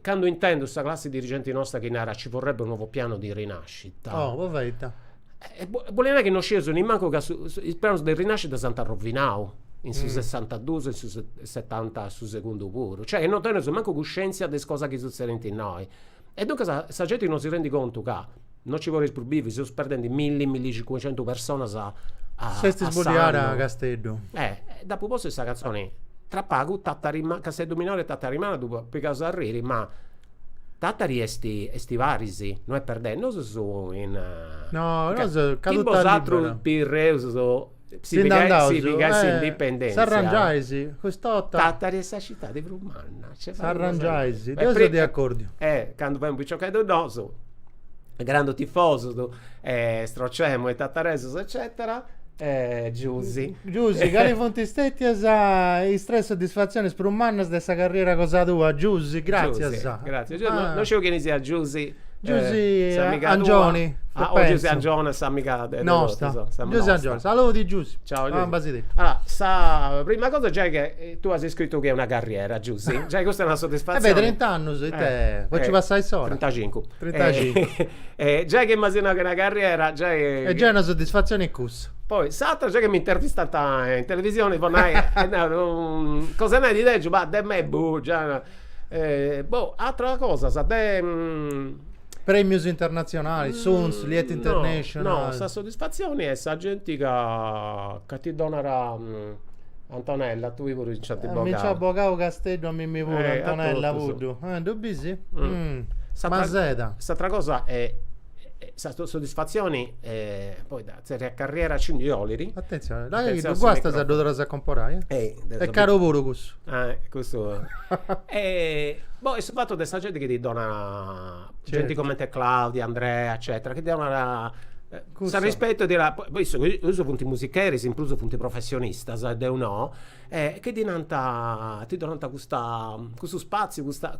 [SPEAKER 3] candu intendu sa classi dirigenti nosta chi narat ci vorrebbe un nuovo piano di rinascita. Oh, poita ita? E bolit nai chi non scieus nemmancu ca su is pianus de rinascita s'ant arrovinau in su sessantadus e in su setanta su segundu puru. Cioè non teneus mancu cuscenzia de is cosas chi sutzedint innoi. E duncas sa genti non si rendit contu ca non nci podeus prus bivi, seus perdendi milli, millicincuxentus personas a
[SPEAKER 2] S'est sbodiada Casteddu. Eh. Dd'apu postu
[SPEAKER 3] in sa cantzoni, tra pagu Tàtari Manna, Casteddu Minori e Tàtari Manna ddu po, pigaus a arriri ma Tàtari est est paris, no est perdendi, nosu seus in. No, nosu
[SPEAKER 2] caduta libera.
[SPEAKER 3] Bosatrus Pirreus si pigais s'indipendentzia.
[SPEAKER 2] S'arrangiais, cust'ota. Tàtari est sa
[SPEAKER 3] citadi prus manna. S'arrangiais,
[SPEAKER 2] deu seu de acordiu. Candu femus piciocheddus
[SPEAKER 3] nosu grandu tifosus e strocemus is tataresus eccetera e Giusy. Giusy, cali
[SPEAKER 2] funt stètias is tres soddisfatzionis prus mannas de sa carriera cosa tua? Giusy, gràtzias. Giusy, gràtzias. Giusy, no, no
[SPEAKER 3] sciu chini siat Giusy. Giusy s'amiga
[SPEAKER 2] tua. Angioni. Ah, o
[SPEAKER 3] Giusy Angioni s'amiga de totus. Nosta. Giusy
[SPEAKER 2] Angioni. Saludi Giusy. Ciao Giusy. Ambas is ditus. Allora,
[SPEAKER 3] sa
[SPEAKER 2] prima cosa giai
[SPEAKER 3] che Tue as iscritu chi est una carriera Giusy, giai custa est una soddisfatzioni. Eh beh trint'annus
[SPEAKER 2] ite po nci passai s'ora.
[SPEAKER 3] Trintacincu. Trintacincu. Giai chi m'asi nau chi est una carriera giai. Est giai una soddisfatzioni est
[SPEAKER 2] cussa. Poi s'atera giai
[SPEAKER 3] chi m'intervistant in televisioni po nai e nau cosa nai did'egiu, bah de mebbu già. Boh ateras cosas de
[SPEAKER 2] Prèmios internatzionalis, Suns, Liet International? No, sa
[SPEAKER 3] soddisfatzioni est sa genti ca ca ti donat Antonella, a tui puru nc'at bogau. Mi nc'at bogau
[SPEAKER 2] Casteddu a mimmi puru, Antonella Puddu. Ddu bis? Ma seda. S'atra
[SPEAKER 3] cosa est sa soddisfatzioni poi de tzerriai a carriera ci ndi olit. Atentzioni, dai chi
[SPEAKER 2] ddu guastas ddu torras a comporai, eh. Est caru puru cussu. Cussu.
[SPEAKER 3] Boh, est su fatu de sa genti chi ti donat genti coment'e Claudia, Andrea eccetera chi ti
[SPEAKER 2] donat
[SPEAKER 3] s'arrispetu 'e ddi nai, poi su prus funt musicheris in prus funt professionistas e deu no e chi ti nant, ti donant custa custu spaziu custa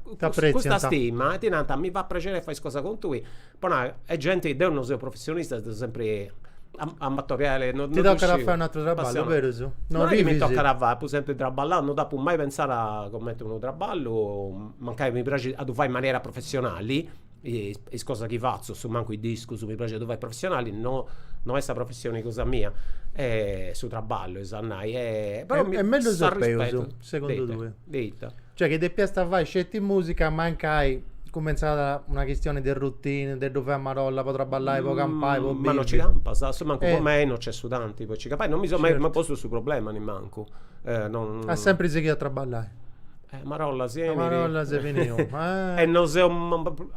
[SPEAKER 3] custa stima e ti nant mi fait prexeri 'e fai is cosas cun tui po nai e genti, deu no seu professionista seu sempri amatoriali no ddu sciu. Ti tocat a fai un'aturu
[SPEAKER 2] traballu, berus? No est chi mi tocat a
[SPEAKER 3] fai, apu sempri traballau, no dd'apu mai pentzau coment'unu traballu mancai mi praxit a ddu fai in manera professionali is cosas chi fatzu su mancu is discus mi praxit a ddu fai professionali no no est sa professioni cosa mia e su traballu eus a nai e però mi s'arrispetu segundu tui
[SPEAKER 2] de
[SPEAKER 3] ita cioè chi depiast
[SPEAKER 2] fai sceti musica mancai cumentzat una chistioni de routine de ddu fai a marolla po traballai po campai po bivi ma no ci campas a
[SPEAKER 3] su mancu po
[SPEAKER 2] mei
[SPEAKER 3] no nc'est su tanti po ci campai no mi seu mai postu su problema nemmancu e no
[SPEAKER 2] apu sempri sighiu a traballai Marolla
[SPEAKER 3] si 'enit. Marolla
[SPEAKER 2] si finiu. E no
[SPEAKER 3] seu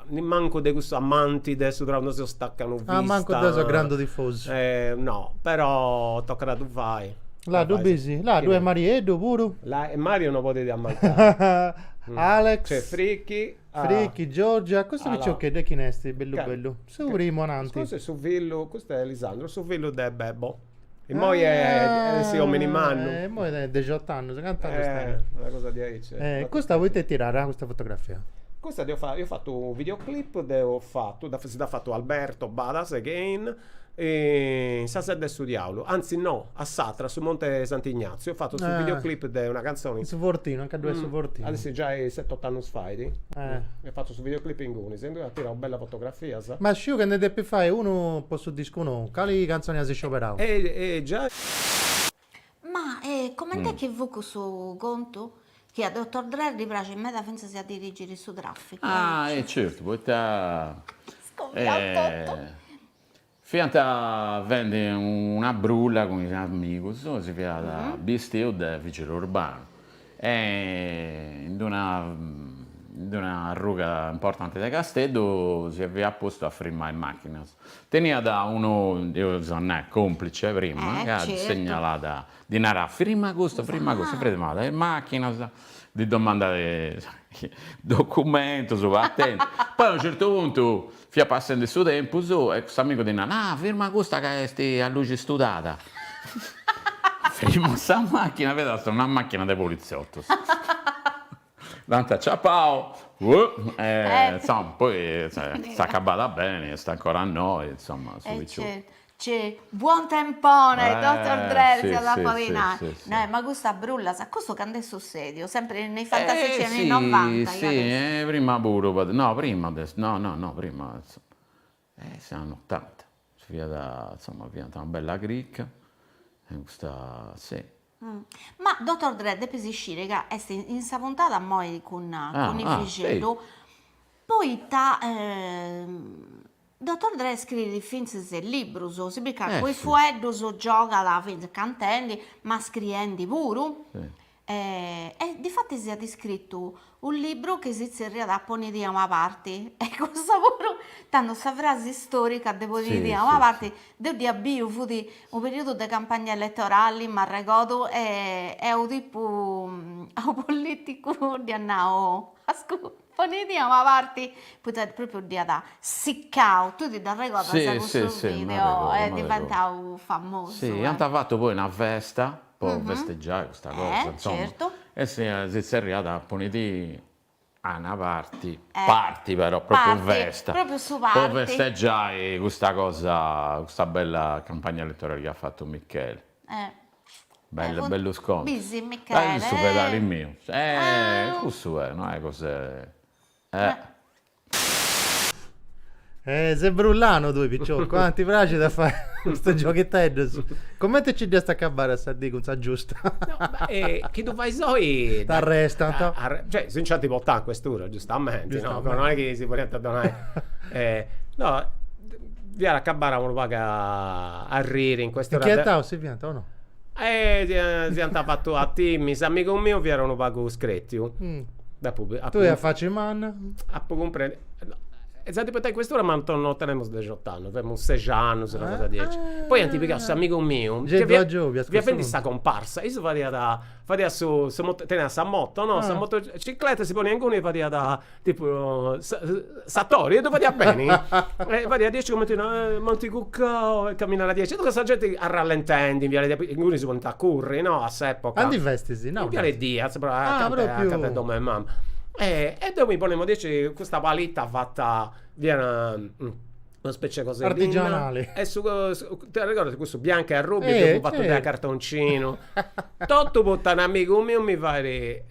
[SPEAKER 3] nimancu de cussu amanti de su traballu, no seu stacanovista. Ah, mancu deu seu grandu
[SPEAKER 2] tifosu. No, però
[SPEAKER 3] tocat a ddu fai. Là ddu bisi?
[SPEAKER 2] Là ddoi est Marieddu puru? Là e Mario
[SPEAKER 3] no podit ammancai. Alex.
[SPEAKER 2] Nc'est
[SPEAKER 3] Fricchi. Fricchi,
[SPEAKER 2] Giorgia, custu piciocheddu 'e chini est
[SPEAKER 3] bellu
[SPEAKER 2] bellu? Su primu ananti. Custu est su fillu,
[SPEAKER 3] custu est Lisandro, su fillu de Bebo. Immoi at essi omini mannu. Eh, immoi tenit
[SPEAKER 2] dexot'annus, cant'annus tenit? Eh, una cosa
[SPEAKER 3] diaici. Eh, custa poita est tirada,
[SPEAKER 2] custa fotografia? Custa deu fa, eus
[SPEAKER 3] fatu u' videoclip, deu fatu, si dd'at fatu Alberto Badas again, in sa Sedda 'e su Diaulu, anzi no, a s'atra, a su Monti 'e Sant'Ignatziu, eus fatu su videoclip de una cantzoni. In su Fortinu, anca ddoi est
[SPEAKER 2] su Fortinu. At essi giai set'ot'annus
[SPEAKER 3] fait. Eh. Eus fatu su videoclip inguni Sempri at tirau bellas fotografias. Ma sciu che nde depis
[SPEAKER 2] fai unu po su discu nou. Cali cantzoni as scioberau? E giai.
[SPEAKER 5] Ma e coment'est chi fut cussu contu? Chi a Dotor Drer ddi praxit meda fintzas a dirigiri su traficu. Ah e certu
[SPEAKER 4] poita. Scoviau
[SPEAKER 5] totu.
[SPEAKER 4] Fiant fendi una brulla cun is amigos, si fiat bistiu de vìgili urbanu e in d'una in d'una arruga importanti de Casteddu si fiat postu a frimmai machinas. Teniat unu, deu seu, nai, complice prima, ca segnalàt, ddi narat, frimma custu, frimma custu, frimmàt is machinas, ddi domandàt is documentus, patentis, poi a unu certu puntu Fiat passendi su tempus e custu amigu ddi narat, Ah, firma custa ca est a luxi studada. Firmat custa machina, fiat una machina de poliziotus. Dd'ant aciapau e insoma, poi s'est acabada beni, est ancora innoi, insoma, su picioccu.
[SPEAKER 5] Unu buontempone dottor Dre
[SPEAKER 4] si
[SPEAKER 5] at a
[SPEAKER 4] podi nai, nai
[SPEAKER 5] ma
[SPEAKER 4] custas
[SPEAKER 5] brullas, custu cand'est sussediu, sempri in is fantastici anni novanta deu pensu. Prima
[SPEAKER 4] puru podet no prima de no no no prima 'e is annus otanta si fiat insoma fiant una bella cricca e custa si
[SPEAKER 5] Ma dotor Dre depis isciri ca est in sa puntada immoi cun Ivixeddu poita dotor Dre scriit fintzes libbrus si pigat cun is
[SPEAKER 4] fueddus
[SPEAKER 5] giogat fintzes cantendi ma scriendi puru
[SPEAKER 4] e
[SPEAKER 5] difatis iat iscrittu Unu libru chi si tzerriat Ponidi a una parti, e cussa puru, tando sa frasi istorica de ponidi a una parti, deu dd'ia biu, fut unu periudu de campagna elettorali, m'arregodu, e unu tipu a unu politicu dd'iat nau, ascù, ponidi a una parti, poita propriu dd'iat siccau, tui ti dd'arregodas cussu video, est diventau famosu. Iant fatu poi
[SPEAKER 4] una festa, po festegiai custa cosa insomma e
[SPEAKER 5] si
[SPEAKER 4] si zerriat ponidi a una parti, party però propriu festa
[SPEAKER 5] po festegiai custa
[SPEAKER 4] cosa custa bella campagna elettorali chi at fatu Micheli bellu bellu scòtulu su
[SPEAKER 5] fedali miu
[SPEAKER 4] cussu est no est cosa 'e
[SPEAKER 2] Eh. Eh, ses brullanu tui, picioccu, ah? Ti praxit a fai custus giogheteddus? Comente nci dd'iast acabbada a sa dì cun sa giustìtzia? No, ma eh,
[SPEAKER 3] chi ddu fais oi? T'arrestant. A-
[SPEAKER 2] a- cioè, si
[SPEAKER 3] nc'ant portau in questura, giustamenti, no? Giustamenti. Però no est chi si podiant donai. Eh, no, fiat acabada unu pagu a arriri in questura de. Inchietau si fiant o no? si ant fatu a timmi, s'amigu miu fiat unu pagu scretiu. Deu
[SPEAKER 2] puru. Tui a faci
[SPEAKER 3] manna. Apu
[SPEAKER 2] cumprendiu.
[SPEAKER 3] Esattu, portau in cuestura m'ant, no tenemus dexot'annus, teniamus sex'annus, una cosa diaici. Poi ant pigau s'amigu miu, chi fiat
[SPEAKER 2] fiat
[SPEAKER 3] fendi
[SPEAKER 2] sa comparsa,
[SPEAKER 3] issu fadiat fadiat su su teniat sa moto no, sa motocicletta, si poniat inguni e fadiat Tipu s'atori e ddu fadiat beni. E fadiat diaici cumenti nai, m'ant cuccau e caminada diaici. E duncas sa genti arrallentendi in viale Diaz, inguni si ponint a curri, no, a s'epoca. Aundi festis, innaudu.
[SPEAKER 2] In viale
[SPEAKER 3] Diaz, acanta 'e
[SPEAKER 2] dom'e mama.
[SPEAKER 3] E deu mi ponemu diaici custa palita fata, fiat una specie 'e cosa 'e linna artigianale e si ti arregordas cussu biancu e arrubiu chi fut fatu dae cartoncinu totu poita unu amigu miu mi fait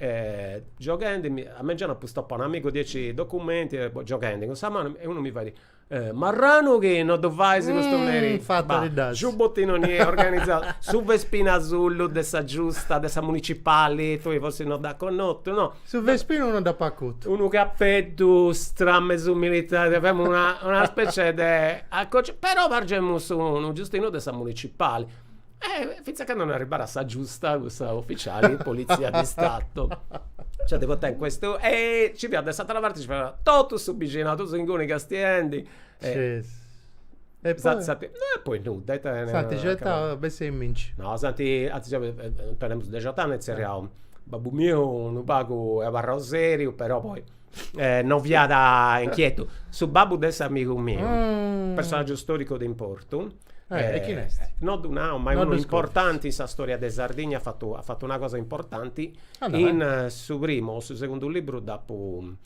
[SPEAKER 3] gioghendi mi a mengianu apu stopau unu amigu diaici documenti e gioghendi cun sa manu e unu mi fait marranu chi no ddu fais custu merì bah
[SPEAKER 2] giubottinu ni est
[SPEAKER 3] organizau su vespinu asullu de sa giusta de sa municipali tui forsis no dd'as connotu no Su vespinu non
[SPEAKER 2] dd'apo acutu. Unu
[SPEAKER 3] capeddu stramesu militari, femus una una specie de acoci, però pargemus unu giustinu de sa municipali. E finzas a candu non arribbada sa giusta cussa ufficiali de polizia di stato. Cioè devo tenere questo e nci fiat de s'atera parti nci fiat totu su bixinau, totu su inguni castiendi e
[SPEAKER 2] E poi?
[SPEAKER 3] S'ant e poi nudda. S'ant
[SPEAKER 2] ixetau besseiminci. No, s'ant,
[SPEAKER 3] antzis deu tenemus dexot'annus e tzerriaus babbu miu unu pagu est abarrau seriu, però poi non fiat inchietu. Su babbu de s'amigu miu, personaggiu storicu de importu. E
[SPEAKER 2] chini est? No ddu nau, ma
[SPEAKER 3] est unu importanti in sa storia de Sardigna, at fatu at fatu una cosa importanti. In su primu o su segundu liburu dd'apu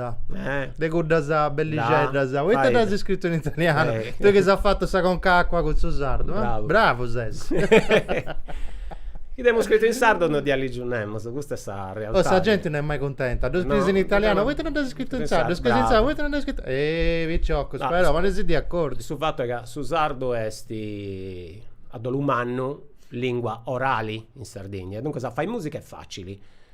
[SPEAKER 2] Ghetta. Eh. De cuddas bellixeddas. Da, Poita dd'as iscritu in italianu? Eh. Tui chi s'as fatu sa conca a acua cun su sardu. Eh? Bravu. Bravu ses.
[SPEAKER 3] Chi dd'emu scritu in sardu non dd'iat ligiu nemus, custa est sa realtadi. Oh, sa genti non est mai cuntenta.
[SPEAKER 2] Ddu scriis in italianu, poita non dd'as iscritu in sardu? Ddu scriis in sardu, poita non ddas iscrito? Eh, piciocus, però, poneisì de acordiu. Su fatu est ca
[SPEAKER 3] su sardu est a dolu mannu lingua orali in Sardigna e duncas a fai musica est facili.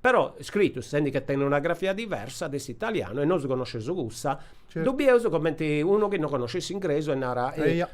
[SPEAKER 3] Però scritus sendi che tenit una grafia diversa de s'italianu e nosu connosceus cussa, ddu bieus comenti unu chi no connoscit s'ingresu e narat, Eia,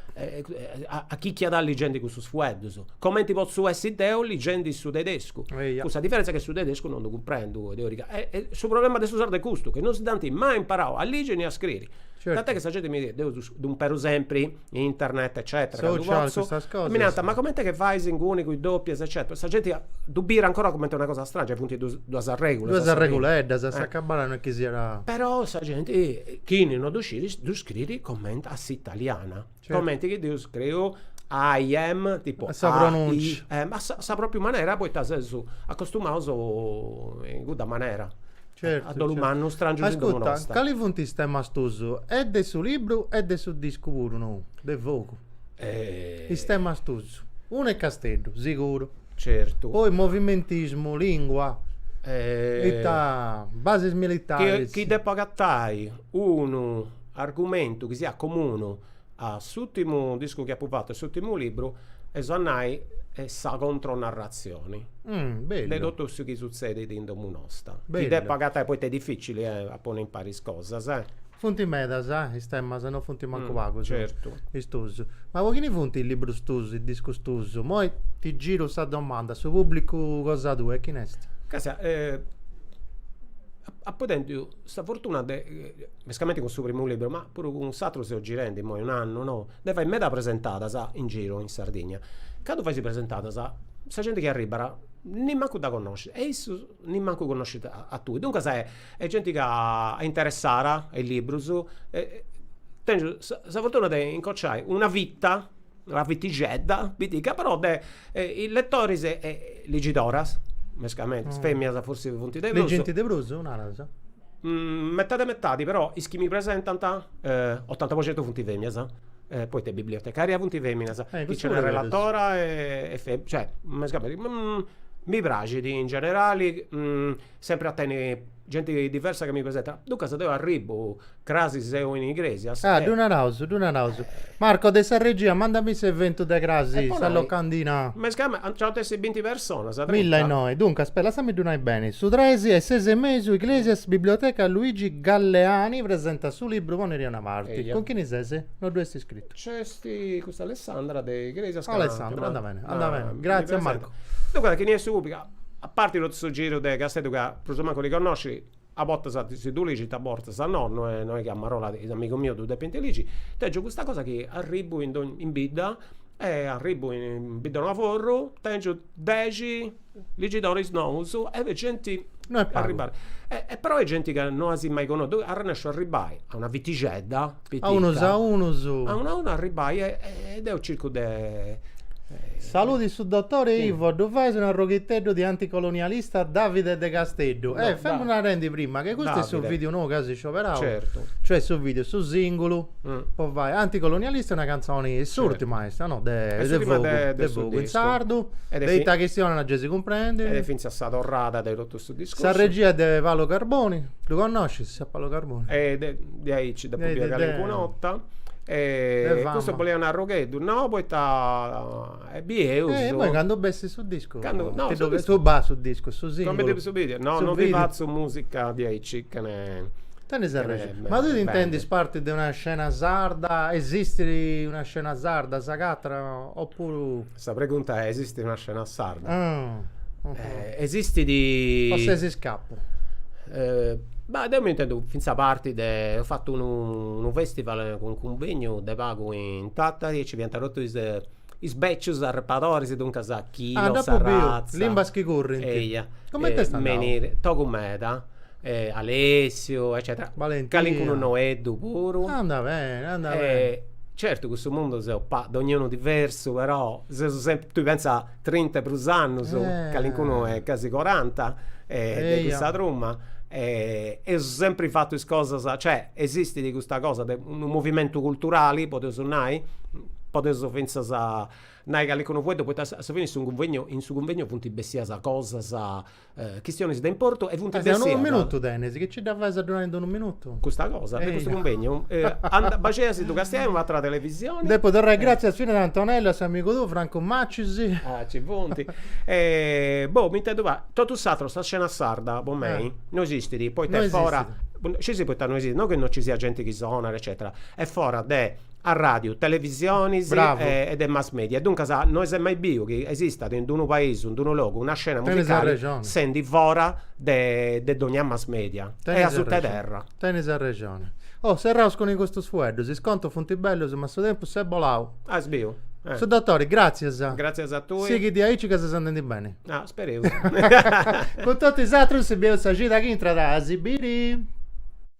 [SPEAKER 3] a chi chi est ligendi cussus fueddus? Comenti potzu essi deu ligendi su tedescu? Eia. Cun sa diferenza che su tedescu no ddu cumprendu oi teorica. E su problema de su sardu est custu, che no si dd'ant mai imparau a ligi ni a scriri. Tant'è che sa genti mi deu ddu imperu sempri internet eccetera candu Social, postu custas cosas. mi narant ma comente est che fais inguni cun is doppias eccetera sa genti ddu bit ancora comente una cosa strangia funt dus duas arregulas Duas arreguleddas a s'acabada
[SPEAKER 2] no est chi siat però sa genti
[SPEAKER 3] chini no ddu scit ddu scriit comente a s'italiana comente chi deu scriu I am tipu a sa pronuncia
[SPEAKER 2] a sa propriu
[SPEAKER 3] manera poita seus acostumaus in cudda manera Certu. A dolu mannu, strangius in domu nosta. Ascuta, cali funt
[SPEAKER 2] is temas tus? E de su libru e de su discu puru nou, De Fogu. Is temas tus. Unu est Casteddu, siguru. Certu. Poi
[SPEAKER 3] movimentismu,
[SPEAKER 2] lingua, ita, basis militaris. Chi depu agatai
[SPEAKER 3] unu argumentu chi siat comunu. A s'ùrtimu discu chi apu fatu e s'ùrtimu libru, est a nai, est sa contronarratzioni de totu su chi sutzedit in domu nosta, chi depu agatai, poita est dificili a ponni impari is cosas. Funt
[SPEAKER 2] medas is temas, no funt mancu pagus is
[SPEAKER 3] tuus.
[SPEAKER 2] Ma po chini funt is librus tuus, is discus tuus? Moi ti giru sa domanda, su pùblicu cosa tua e chini est? Càstia,
[SPEAKER 3] apu tentu Sa fortuna de, mescamente cun su primu libru, ma puru cun s'atru seu girendi immoi un'annu, no, de fai meda presentadas in giru in Sardigna. Candu faisi presentadas, sa genti chi arribat nimancu dda connoscit e issu nimancu connoscit a tui. Duncas est genti ca est interessada a is librus e tengiu sa fortuna de incociai una fita una fitixedda, pitica però de is lettoris e
[SPEAKER 2] ligidoras,
[SPEAKER 3] mescamente, is feminas
[SPEAKER 2] forsis
[SPEAKER 3] funt
[SPEAKER 2] de prus,
[SPEAKER 3] legint de
[SPEAKER 2] prus
[SPEAKER 3] naras? metadi e metadi però is chi mi presentant otanta po centu funt feminas poita bibliotecaria funt feminas, chi nc'est relatora e cioè mescamente mi praxit in generali sempri a tenni Genti diversa ca mi presentat. Duncas deu arribbu, crasi seu in Igresias. Ah, ddu naraus,
[SPEAKER 2] ddu naraus. Marco de sa regia, mandami s'eventu de crasi, sa locandina.
[SPEAKER 3] Mescama,
[SPEAKER 2] nci ant a
[SPEAKER 3] essi binti personas, trinta. Milla innoi. Duncas,
[SPEAKER 2] aspeta, lassami
[SPEAKER 3] ddu
[SPEAKER 2] nai beni. Su tres a is ses e mesu, Igresias, Biblioteca Luigi Galleani, presentat su libru Ponidì a una parti. Eia. Cun chini
[SPEAKER 3] ses? No
[SPEAKER 2] ddu est iscritu. Nc'est custa
[SPEAKER 3] Alessandra de Igresias ca. Alessandra, andat beni,
[SPEAKER 2] andat beni. Gratzias Marco. Duncas, chini est su pubblicu?
[SPEAKER 3] A parti totu su giru de Casteddu ca prus o mancu ddu connoscis, a bortas si ddu lixint a bortas nono, no est chi a marola is amigus mius ddu depint lixi, tengiu custa cosa chi arribbu in dogni in bidda e arribbu in Biddanoaforru, tengiu dexi ligidoris nous e est genti No est pagu
[SPEAKER 2] Però
[SPEAKER 3] est genti ca no as mai connotu, arrennesciu a arribbai a una fitixedda A unus
[SPEAKER 2] a unus. A unu a unu arribbai
[SPEAKER 3] e deu circu de.
[SPEAKER 2] Saludi su dotore e Ivo, ddu fais un arroghitteddu de anticolonialista Davide de Casteddu. Eh, femus narendi
[SPEAKER 3] prima
[SPEAKER 2] che custu est su vidiu nou chi as scioberau. Certu. Cioè
[SPEAKER 3] su vidiu,
[SPEAKER 2] su singulu, po
[SPEAKER 3] fai,
[SPEAKER 2] anticolonialista est una cantzoni, s'urtima est, no? De Fogu, de
[SPEAKER 3] Fogu in
[SPEAKER 2] sardu, de
[SPEAKER 3] ita
[SPEAKER 2] chistionat
[SPEAKER 3] gei si
[SPEAKER 2] cumprendit. E
[SPEAKER 3] fintzas sa
[SPEAKER 2] torrada
[SPEAKER 3] de totu. Sa regia est de
[SPEAKER 2] Paolo Carboni, ddu connoscis a Paolo Carboni? E de de
[SPEAKER 3] aici depu biri
[SPEAKER 2] calincuna
[SPEAKER 3] 'orta e
[SPEAKER 2] custu boliat un arrogheddu,
[SPEAKER 3] no? Poi dda bieus. E imoi candu bessit su
[SPEAKER 2] discu,
[SPEAKER 3] su bah su discu,
[SPEAKER 2] su singulu. Cumenti no, su video,
[SPEAKER 3] no no
[SPEAKER 2] ndi
[SPEAKER 3] fatzu
[SPEAKER 2] musica
[SPEAKER 3] diaici chene. Tenis sa
[SPEAKER 2] regia, ma tui t'intendis
[SPEAKER 3] parti
[SPEAKER 2] de
[SPEAKER 3] una
[SPEAKER 2] scena sarda, esistit una scena sarda, s'agatat, o no, oppuru. Sa pregunta
[SPEAKER 3] è, esistit una scena sarda? Esistit.
[SPEAKER 2] O ses iscapu?
[SPEAKER 3] Bah, deu m'intendu fintzas parti de. Eus fatu unu festival cun unu cunvegnu de pagu in Tatari e nci fiant totu is becius arrepadoris, duncas Quilo, Sa Razza. Ah, nd'apu biu,
[SPEAKER 2] limbas chi
[SPEAKER 3] currint.
[SPEAKER 2] Eia. Cumenti
[SPEAKER 3] est andau?
[SPEAKER 2] Togu meda.
[SPEAKER 3] e Alessiu eccetera Balentinu
[SPEAKER 2] calincunu
[SPEAKER 3] noeddu puru anda bene
[SPEAKER 2] anda bene certu
[SPEAKER 3] custu mundu seus pa dognunu diversu però seus sempri tui pensa trinta e prus annus calincunu e gasi coranta de custa truma e eus sempri fatu cosas cioè esistit custa cosa de unu movimentu culturali podeus nai podeus finzas nai calincunu fueddu poita a su fini in su cunvegnu in su cunvegnu funt bessias cosas Chistionis de importu e funt bessias. Unu minutu tenis, chi
[SPEAKER 2] nci dda fais a ddu nai in unu minutu? Custa cosa de
[SPEAKER 3] custu cunvegnu? Baxei a si ddu castiai in un'àtera televisioni. Depu torrai gràtzias
[SPEAKER 2] finas a Antonellu e a s'amigu tuu Francu Macis. Ah, nci
[SPEAKER 3] funt. Boh, mi intendu fai, totu s'ateru, sa scena sarda, po mei, no esistit, poita est fora, scì,
[SPEAKER 2] scì, poita
[SPEAKER 3] no esistit, no chi no nci siat genti chi sonat eccetera, est fora de arràdiu, televisionis, bravu, e
[SPEAKER 2] de mass
[SPEAKER 3] media. Duncas no est mai biu chi esistat in unu paisu, in unu logu, una scena
[SPEAKER 2] musicali sendi
[SPEAKER 3] fora de de dogna mass media. E a suta 'e terra. Tenis arrexoni.
[SPEAKER 2] Oh, serraus cun custus fueddus. Is contus funt bellus ma su tempus s'est bolau. As
[SPEAKER 3] biu? Su
[SPEAKER 2] dotori, gratzias. Gratzias a
[SPEAKER 3] tui. Sighit diaici ca ses
[SPEAKER 2] andendi beni. Ah, spereus.
[SPEAKER 3] Cun
[SPEAKER 2] totu is atrus si bieus sa cida chi intrat a si biri.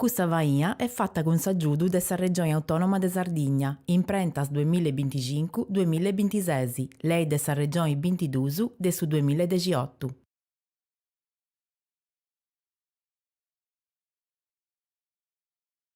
[SPEAKER 1] Custa faina est fata cun s'agiudu de sa Regioni Autònoma de Sardigna, Imprentas duemilla e binticincu, duemilla e bintises, Lei de sa Regioni bintiduus de su duemilla e dexiotu.